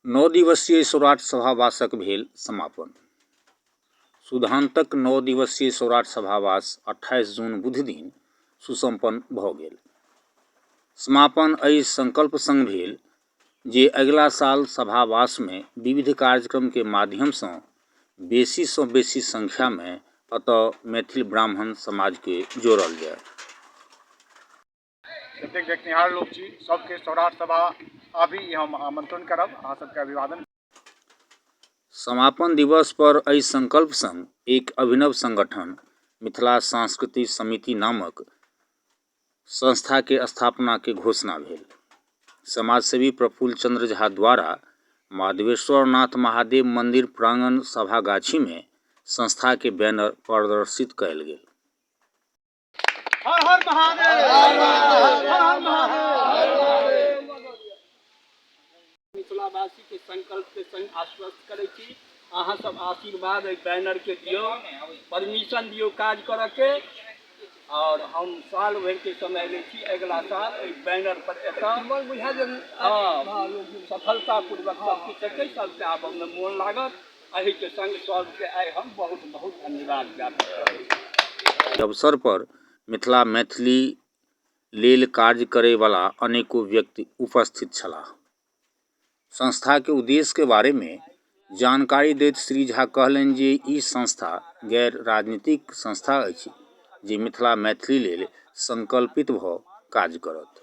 नओ दिवसीय सौराठ सभावासक भेल समापन सुधान्तक नओ दिवसीय सौराठ सभावास अट्ठाइस जून बुध दिन सुसम्पन्न भऽ गेल समापन एहि संकल्प संग भेल जे अगिला साल सभावासमे विविध कार्यक्रमके माध्यमसँ बेसीसँ बेसी संख्यामे एतऽ मैथिल ब्राह्मण समाजके जोड़ल जाय जतेक देखनिहार लोक छी सबके सौराठ सभा आबी ई हम आमंत्रण करब अहाँ सबके अभिवादन समापन दिवस पर एहि संकल्प संग एक अभिनव संगठन मिथिला सांस्कृतिक समिति नामक संस्था के स्थापना के घोषणा भेल समाजसेवी प्रफुल्ल चंद्र झा द्वारा माधवेश्वरनाथ महादेव मंदिर प्रांगण सभागाछी में संस्था के बैनर प्रदर्शित कयल गेल हर हर महादेव हर हर महादेव मिथिलावासी के संकल्प के संग आश्वस्त करे छी अहाँ सब आशीर्वाद एहि बैनर के दियो परमिशन दियो काज करऽ के और हम साल भर के समय ले छी अगला साल एहि बैनर पर एतऽ मन बुझा जे हाँ सफलता पूर्वक सब किछु हेतै सबके आबऽ मे मोन लागत अहिके सङ्ग सभके आइ हम बहुत बहुत धन्यवाद ज्ञापित करै छी अवसर पर मिथिला मैथिली लेल कार्य करै बला अनेको व्यक्ति उपस्थित छलाह संस्थाके उद्देश्यके बारेमे जानकारी दैत श्री झा कहलनि जे ई संस्था गैर राजनीतिक संस्था अछि जे मिथिला मैथिली लेल सङ्कल्पित भऽ काज करत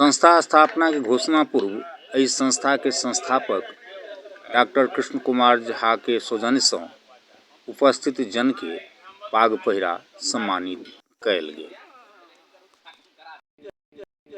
संस्था स्थापनाके घोषणा पूर्व एहि संस्थाके संस्थापक डॉक्टर कृष्ण कुमार झाके सौजन्यसँ उपस्थित जनके पाग पहिरा सम्मानित कयल गेल